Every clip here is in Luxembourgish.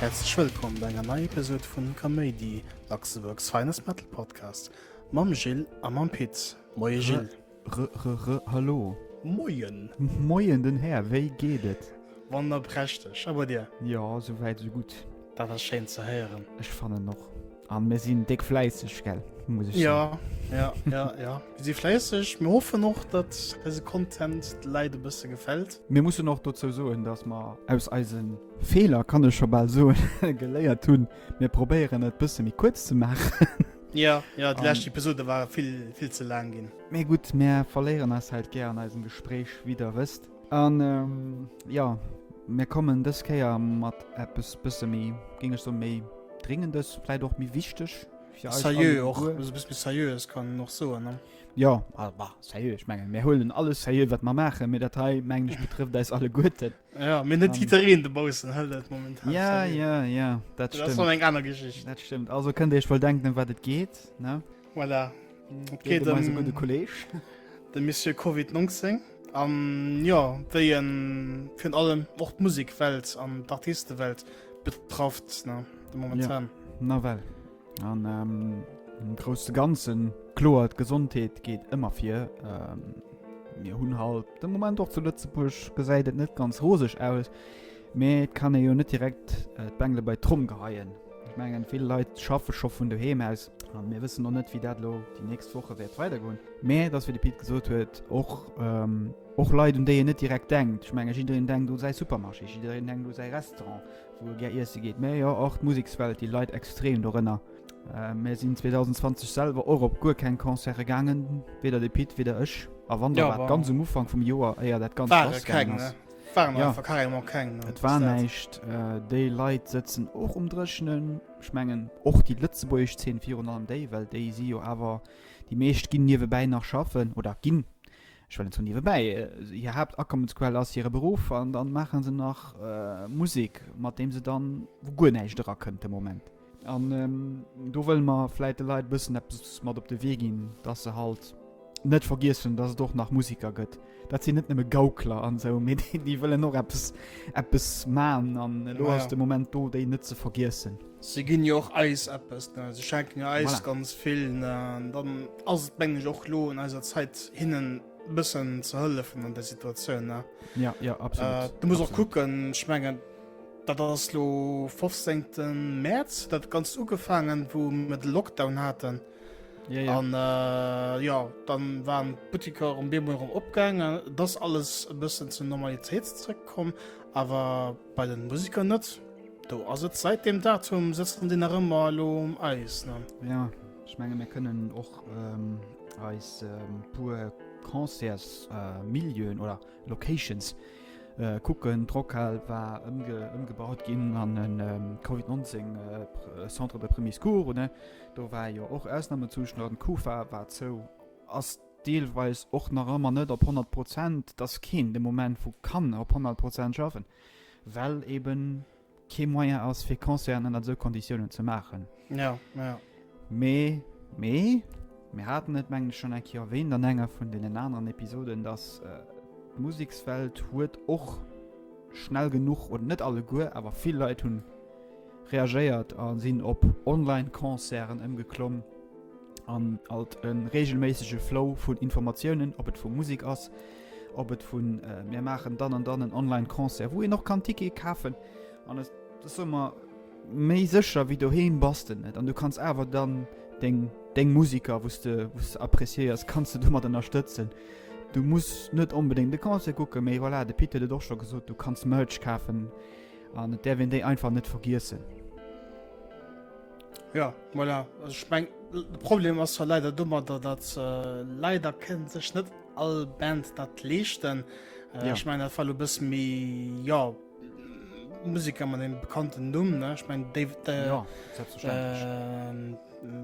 Häerzlech wëllkomm bei enger neier Episode vun Kaméidi, Luxembourg's Finest Metal Podcast mam Gilles a mam Pit. Moie Gilles. Hallo. Moien. Moien den Här, wéi geet et? Wander prächteg, a bei dir? Jo, sou wäit sou gutt. Dat ass schéin ze héieren. Ech fannen och. An mir sinn déck fläisseg, gell? Muss ech ja, ja, ja, ja. Mir si fläisseg. Mir hoffen och, datt eise Content de Läit e bësse gefält. Mir mussen och dozou soen, datt mer aus eise Feeler, kann ech scho bal soen, geléiert hunn. Mir probéieren et bësse méi kuerz ze maachen. Jo, jo, déi lescht Episode war vill, vill ze laang ginn. Mee gutt, mär verléieren eis Zäit gär an eisem Gespréich, wéi der wësst. An, jo, mär kommen dës Kéier mat eppes bësse méi, géing ech soen, méi Dréngendes, vläit och méi Wichteg fir eis alleguer. Serieux och, also e bësse méi serieux, kann een och soen, ne? Jo, bah, serieux, ech mengen, mär huelen alles serieux, wat mer maachen, mee dat hei, mengen ech, betrëfft eis alleguerten. Ja, mir net Titereen de Bausen hëll dat moment. Ja ja ja dat stimmt eng aner Geschicht. Dat stimmt also kënnt eich voll denken um wat et geht ne voilà. okay, de Kolleg de Miss CoVI 19 an ja wéi en fir allem och d' Musekwelt an d' Artistewelt betrafft na de momentan ja. na well. An ähm, im großen Ganzen, klar, die Gesundheit geht immer vier. Ähm, mir hunn halt de Moment och zu Lëtzebuerg gesäit et net ganz roseg aus. Mee et kann e jo net direkt äh, d'Bengle bei Tromm geheien. Ich mengen vill Leiit schaffe scho vun doheem aus an mir wëssen noch net wie dat lo die nächst Woche wäert weidergoen. Mee dats fir de Pit gesot huet och ähm, och Leiit un déi en net direkt denkt. Ich menge jiddeen denkt u säi Supermarché, jiddeen denkt u säi Restaurant, Wou e gär iesse geet. Mä jo, och d'Musekswelt, déi leit extrem dorënner. Mir sinn 2020 selwer och op guer keng Concerte gaangen, weder de Pit, weder ech. A wann, da war et ganz um Ufank vum Joer, éier dat Ganzt lassgaangen ass. Et war näischt. Déi Leit sëtzen och um Dréchenen. Ech mengen, och déi lëtzebuergesch Zeen virun allem déi, well déi si jo awer, déi meescht ginn niewebäi nach schaffen oder ginn Ech well en sou niewebäi, hir Haaptakommensquell ass hire Beruff an dann maachen se nach Musek mat deem se dann wou guer näischt era kënnt de Moment. An do wëlle mer vläit de Leit e bëssen eppes mat op de Wee ginn, dass se halt net vergiessen, dass et och nach Musiker gëtt. Dat sinn net nëmme Gaukler an esou, mee déi wëllen och eppes eppes man an elo ass de Moment do déi net ze vergiessen. Se ginn jo och eis eppes, ne? Se schenken jo eis Voilà. ganz vill, ne? An dann ass et, mengen ech, och lo un eiser Zäit, hinnen e bëssen ze hëllefen an där Situatioun, ne? Ja, ja, Äh, absolut. du muss och absolut. kucken, ech mengen, dat ass lo 15. Mäerz huet dat Ganzt ugefaangen, wou mir de Lockdown haten. Ja, ja. An äh, ja, dann waren d'Butteker um Bemol erëm opgaangen. Et ass alles e bëssen zur Normalitéit zeréckkomm, awer Bei den Musiker net. Do ass et seit dem Datum sëtzt en deen nach ëmmer elo um Eis ne. Jo ech menge mir kënnen och eis puer Concerts Milieuen oder Locations kucken. D'Rockhal war ëmgebaut ginn an e Covid 19 Centre de Premier Secours un. Do war jo och Ausnamezustand. D'Kufa war zou. deelweis och nach ëmmer net op 100 Prozent, dass keen de Moment vu kann op 100 Prozent schaffen, well ebe kee Moyen ass, fir Concerten ënnert esou Konditiounen ze maachen. Ja, ja. Mee, mee, mir haten et, mengen ech, schonn eng Kéier erwähnt an enger vun deenen aneren Episoden, dass d'Musekswelt huet och schnell genuch, oder net alleguer, awer vill Leit hu reagéiert a sinn op Online-Concerten ëmgeklomm. an alt en regelméissege Flow vun Informatiounen, ob et vu Musik ass, ob et vun äh, mir machen dann an dann en Online-Concert, wo een noch kann Ticket kafen an das ass ëmmer méi sécher wéi doheem bass de net an du kanns awer dann deng deng Musiker wos de wos de appréciéiers kanns du domat ënnerstëtzen. Du muss net onbedéngt de Concert kucke méi voilà, de Pit huet et och scho gesot, du kanns Merch kafen an et däerf een déi einfach net vergiessen. Ja, voilà. Also ich mein, de Problem ass ja leider dummer, dat dat äh, leider kënnt sech net all Band dat leeschten. Äh, Ja. Ich mein dat war lo bëssen méi ja Musiker mat engem bekannten Numm, ne? Ich mein David äh, Ja, selbstverständlech. ähm,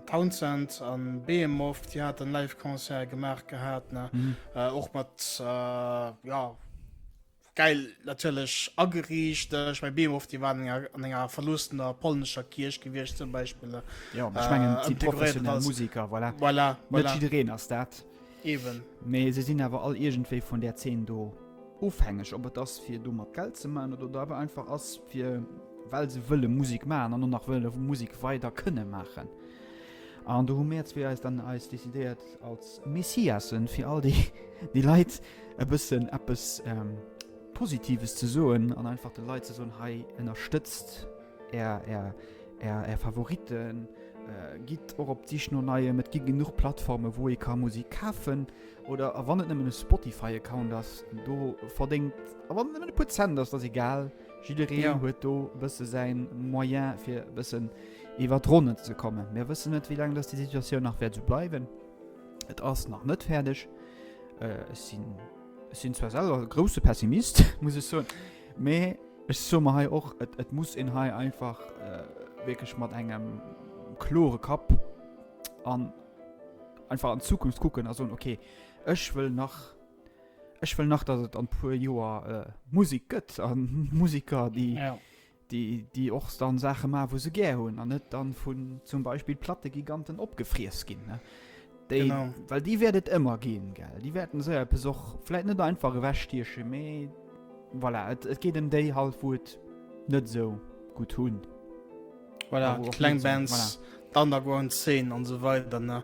Townsend an Behemoth, die hat en Live-Konzert gemacht gehabt, ne? Mhm. Äh, och mat äh, ja, Geil natierlech ageriicht. Ech meng Beemow, déi waren enger an enger verloossener polnescher Kierch gewiescht zum Beispill. Ja, aber ich meine, sie professionelle als, Musiker, voilà. Voilà, voilà. Nicht jedereen ass dat. Eben. Mais sie sinn awer all irgendwie von der Szene do ofhängig. Ob et ass, fir domat Geld ze machen, oder da awer einfach ass, fir, well se wëlle Musik machen an och nach wëlle Musik weider kënne machen. An do hu mär zwee eis dann eis decidéiert als Messiasen, fir all déi déi Leit e bëssen eppes Positives ze soen an einfach de Leit ze soen, hei ënnerstëtzt är är är är Favoriten, gitt och op d'Sich no Neiem, et gi genuch Plattformen, wou ee ka Musik kafen oder a wann et nëmmen e Spotify-Account ass, do verdéngt, a wann et nëmmen e puer Cent ass, dat ass egal. Jiddereen huet do bësse säin Moyen fir bëssen iwwer d'Ronnen ze kommen. Mir wëssen net, wéi laang dass déi Situatioun nach wäert esou bleiwen. Et ass nach net fäerdeg. Äh, ech sinn, ech sinn zwar selwer e grouse Pessimist, muss ech soen, mee ech soe mer hei och, et, et muss een hei einfach äh, wierklech mat engem klore Kapp an einfach an d'Zukunft kucken a soen, okay, ech wëll nach Ech wëll nach, datt et an puer Joer äh, Musik gëtt a Musiker, déi. Ja déi déi och dann Saache ma wou se gär hunn an net dann vun zum Beispiel platte Giganten opgefries ginn ne déi well déi werdet ëmmer ginn gell déi werden se besoch fläit net einfach ewechstieche méi voilà et, et geet em déi halt wou et net sou gut hunn voilà, kleng Bands voilà. Underground 10 an so weiter ne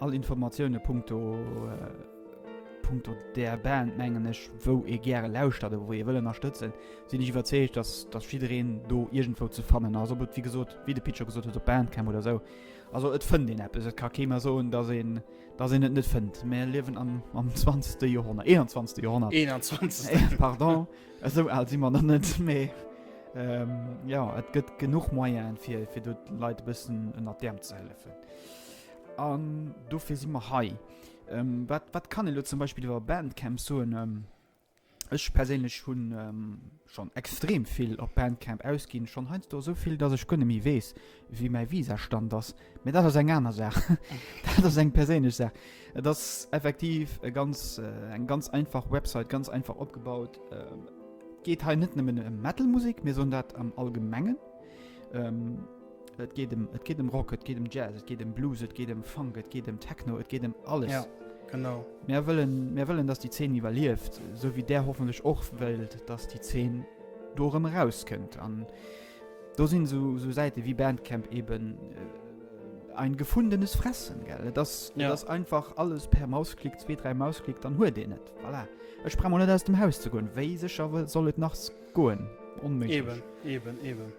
All Informatioune punkto punkto där Band, mengen ech, wou ee gäre lauschtert a wou ee wëll ënnerstëtzen, sinn ech iwwerzeegt, datt datt jiddereen do iergendwou ze fannen ass. Ob et wéi gesot, wéi de Pit scho gesot huet, op Bandcamp oder esou. Also et fënnt een eppes. Et ka kee mer soen, datt een, datt een et net fënnt. Mir liewen am am 20. Joerhonnert, 21. Joerhonnert. 21. Pardon, esou al si mer nach net, mee jo, et gëtt genuch Moyenen, fir fir do d'Leit e bëssen ënnert d'Äerm ze hëllefen. An dofir si mer hei. Ähm, wat, wat kann e lo zum Beispill iwwer Bandcamp soen? Ähm, ech perséinlech hunn ähm, schonn extrem vill op Bandcamp ausginn, schonn heiansdo esou vill, datt ech guer net méi weess, wéi mäi Visastand ass. Mee dat ass eng aner Saach. Dat ass eng perséinlech Saach. Et ass effektiv e ganz, eng ganz einfach Website, ganz einfach opgebaut. Et geet hei net nëmmen ëm Metal-Musek, mir soen dat am Allgemengen. Et geet em, et geet em Rock, et geet em Jazz, et geet em Blues, et geet em Funk, et geet em Techno, et geet em alles. Ja, genau. Mir wëllen, mir wëllen, dass déi Zeen iwwerlieft, sou wéi där hoffentlech och wëllt, dass déi Zeen do erëm erauskënnt. An do sinn sou, sou Säite wéi Bandcamp eben äh, ein gefundenes Fressen, gell? Et ass, et Ja. ass einfach alles per Mausklick, zwee, dräi Mausklick, dann huet een et. Voilà. Ech brauch mol net aus dem Haus ze goen. Wéi sécher soll et nach Goen. Onméiglech. Eben, eben, eben.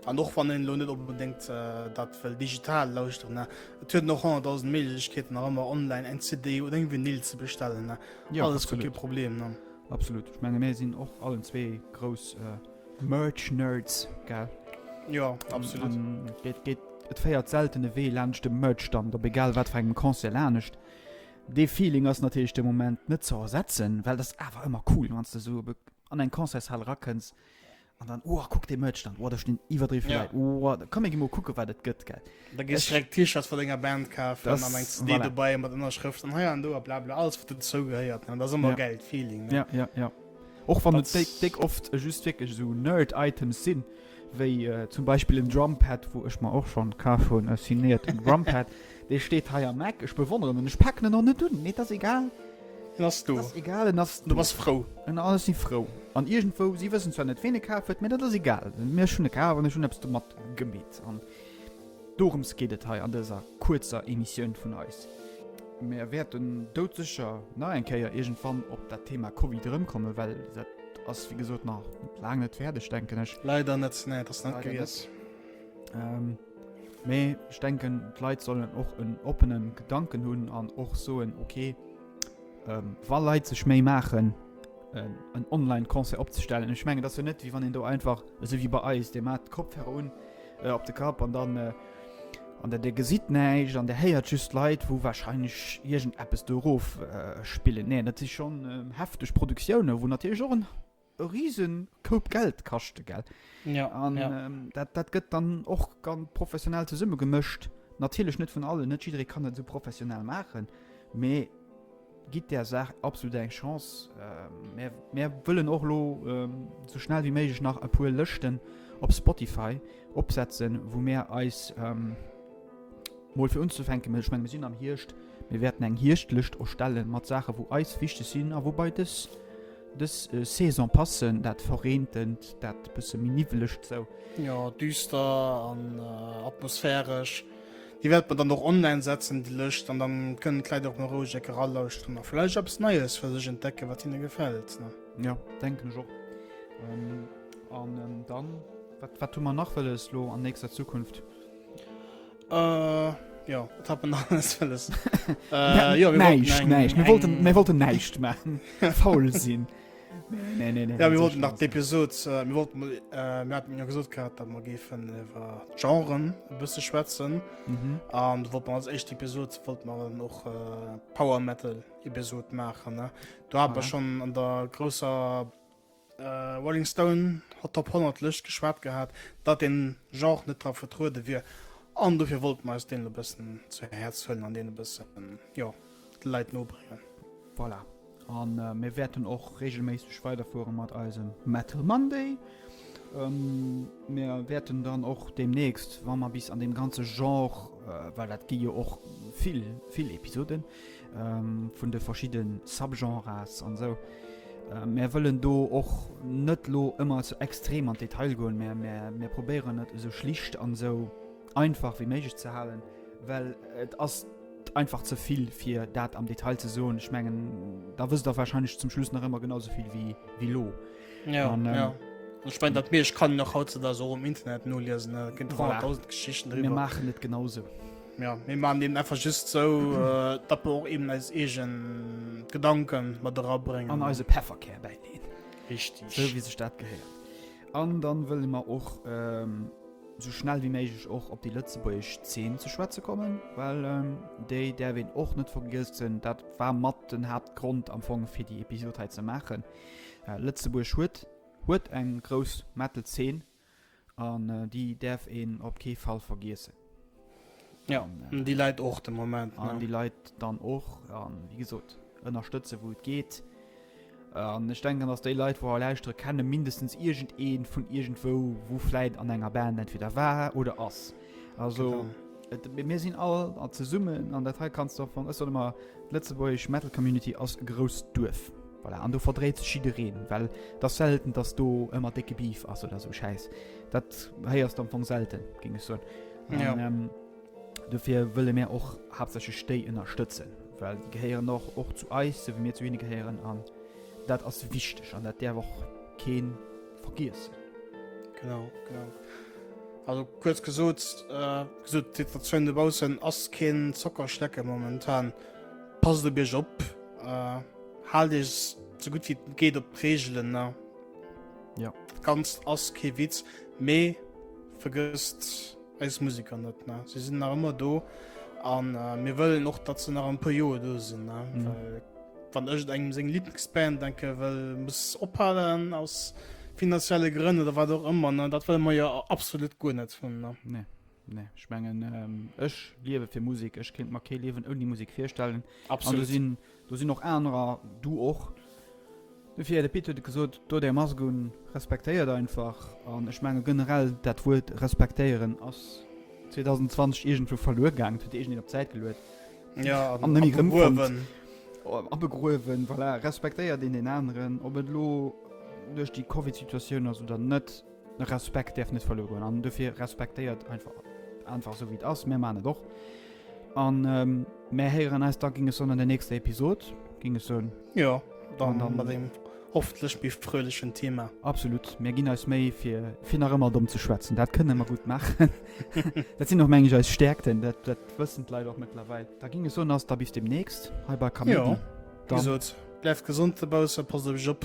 An och wann een elo net onbedéngt dat wëll digital lauschteren, ne? Et huet en och 100.000 Méiglechkeeten nach ëmmer online eng CD oder eng Vinyl ze bestellen, ne? Jo, Alles gutt, kee absolut. Problem, ne? Absolut. Ech menge mir sinn och allen zwee grouss äh, Merch-Nerds, gell? Jo, absolut. An et geet, et féiert selten e Wee laanscht e Merch-Stand, op egal wat fir engem Concert lanescht. Dee Feeling ass natierlech de Moment net ze ersetzen, well dat ass awer ëmmer cool, wann s de esou op e an eng Concertshal rakënns an dann oh, kuck de Merchstand, oh, da stinn iwwerdriwwe yeah. Leit, oh, da komm ech mo kucke wat et gëtt gell. Da gees direkt T-Shirts vu denger Band kafen das, an eng CD voilà. dobäi mat Ënnerschrëft an hei an do a bla bla alles wat den zou gehéiert. Dat ass ëmmer yeah. geilt Feeling. Ne? Ja, ja, ja. Och wann et déck oft just wierklech esou Nerd-Items sinn. wéi zum Beispill en Drumpad, wou ech mer och schonn kaf hunn, e signéierten Drumpad, dee steet hei am Eck, ech bewonneren en, ech paken en och net un, mee et ass egal, en ass do, ass egal, en ass do, du bass frou, en ass, ech si frou, an iergendwou, si wëssen zwar net, ween e kaf huet, mee dat ass egal, mee ech hunn e kaf an ech hunn eppes domat gemeet. Dorëms geet et hei an dëser kuerzer Emissioun vun eis. Mär wäerten doudsécher nach eng Kéier iergendwann op dat Thema Covid erëmkomme well dat ass wéi gesot nach laang net fäerdeg, denken ech. Leider net, nee, et ass net gewiess. Mee ech denken, d'Leit sollen och en oppene Gedanken hunn an och soen, ok, wa Leit sech Méi maachen, en Online-Concert opzestellen, ech mengen, et ass jo net, wéi wann een do einfach, esou wéi bei eis, dir maacht d'Kopfhörer un, äh, op de Kapp an dann äh, an der der gesit neicht an der héiert just Leiit wou wahrscheinlich irgend Apps dorof äh, spillen nee dat si schon äh, heftig Produktionioune wo natürlich och en riesen Koup Geld kaschte gell ja, an ja. Ähm, dat, dat gëtt dann och ganz professionell zesumme gemëscht natürlich net vun allen net jiddere kann net so professionell machen mee Gitt där Saach absolut eng Chance. Mär wëllen och elo sou schnell wéi méiglech nach e puer Lëschten op Spotify opsetzen, wou mär eis mol fir unzefänke, ech menge mir sinn am Hierscht, mir wäerten eng Hierschtlëscht erstelle mat Saache wou eis wichteg sinn a wou bei dës dës Saison passen, dat Verreentend, dat bësse méi niwwelegt sou. Jo, düster an atmosphäresch. Déi wäerte mer dann och online setzen, déi Lëscht, an dann kënnen d'Leit och mol roueg eck eralauschteren a vläicht eppes Neies fir sech entdecken, wat hinne gefält. Jo, denken ech och. An dann, wat hu mer nach wëlles lo an nächster Zukunft? Jo, wat hat mer nach alles wëlles? Näischt, näischt, mir wollten näischt maachen, faul sinn. Nee, nee, nee, ja, mir wollten nach d'Episod äh, mir wollten äh, mir hatten ja gesot gehabt, dat man géifen iwwer Genren e bësse schwätzen mhm. an mhm. wollt man als echt Episod wollt man noch äh, Power Metal Episod machen ne? Du hab ah. schon an der großer äh, Rolling Stone hat top 100 Lëcht geschwert gehabt, dat den Genre net dra vertruude wir an dofir wollt man aus den bëssen zu Herz hëllen an den bëssen ja, Leiit nobringen. Voilà. A mir wäerten och reegelméisseg weiderfuere mat eisem Metal Monday. Mir wäerten dann och deemnächst, wa mer bis an deem ganze Genre, well dat gi jo och vill, vill Episoden vun de verschidde Subgenres an esou. Mir wëllen do och net elo ëmmer esou extrem an d'Detail goen, mä mir probéieren et esou schlicht an esou. einfach wéi méiglech ze halen, well et ass einfach ze vill fir dat am Detail ze soen. Ech mengen da wësst der wahrscheinlech zum Schluss nach ëmmer genau souvill wéi wie lo. Ja, Und, ähm, ja. Ich mein, dat mir ich kann nach haut da so um Internet no lesen gin Voilà. 1000 Geschichten mir drüber. machen net genauso. Ja, mir man dem einfach just so äh, dat wir och eben als egen Gedanken mat rabringen An eise Pefferkär bei denen. richtig. So wie sech dat gehéiert. An dann wëlle mer och ähm, esou schnell wéi méiglech och op déi lëtzebuergesch Zeen ze schwätze kommen, well déi däerf een och net vergiessen. Dat war mat den Haaptgrond am Fong fir déi Episod hei ze maachen. Äh, Lëtzebuerg huet huet eng grouss Metal-Zeen an déi däerf een op kee Fall vergiessen. Ja, an déi Leit och de Moment. An ja. déi Leit dann och an wie gesot ënnerstëtze wou et geet. An ech denken ass déi Leit wouer lauschtere kennen mindestens irgend een vun irgend wou wo fläit an enger Band entweder war oder ass. Also. Genau mir sinn all an ze summen an der Teil kannst doch vun ësser immer Lëtzeburg Metal Community ass e grouss Duerf. Voilà. an du verdréet schidereen, well dat selten, datt du ëmmer decke Beef ass oder so scheiß. Dat héiers am vum selten ging es so. Ja. Und, ähm, dofir wëlle mir och haaptsächlech déi ënnerstëtzen, well déi gehéieren och och zu eis, sou wéi mir zu hinne gehéieren an dat ass wichteg an dat däerf och keen vergiessen. Genau, genau. Also kurz gesot äh, gesot d'Situatioun dobaussen ass keen Zockerschlecke momentan. Passt op Iech op, äh, haalt Iech so gut wéi et geet op d'Reegelen, ne? Ja. Dat Ganzt ass kee Witz, mee Vergësst eis Musiker net ne? Sie sinn nach ëmmer do an äh, mir wëllen och dat ze nach en puer Joer do sinn ne? Mhm. Well, wann ech engem seng Lieblingsband denke well muss ophalen aus finanzielle Grënn oder wat och ëmmer ne? Dat wëlle mer jo absolut guer net hunn ne? Nee. Nee, ich mengen ähm, ech liewe fir Musik, ech kind mat kee liewen ouni Musik virstellen. Absolut. An du sinn Do sinn och anerer, du och. Dofir, Här Deputé, hutt Der gesot, do där Mask un, respektéiert einfach. An ech menge generell, dat Wuert respektéieren ass 2020 iergendwou verluer gaangen. Et huet iergendeen op d'Säit geluet an net méi erëmfonnt. Abegruewen, voilà. Respektéiert een deen aneren, ob et elo duerch déi Covid-Situatioun ass oder net. Respekt däerf net verluer goen an dofir respektéiert einfach einfach esou wéi et ass. Mir man et och an ähm, mir héieren eis da ging es an der nächster Episod ging es soen. Ja, dann, Und dann- mat dem hoffentlech méi fröhlechen Thema. Absolut, mir ginn eis méi fir fir nach ëmmer domm ze schwätzen. Dat kënne mer gut machen. dat sinn och mengeg eis Stärkten, dat dat wëssen d'Leit och mëttlerweil. Da ging es soen ass da bis demnächst hei bei Kaméidi. Ja. Dann- Gesot, bleift gesund, de Bausse, passt op iech op.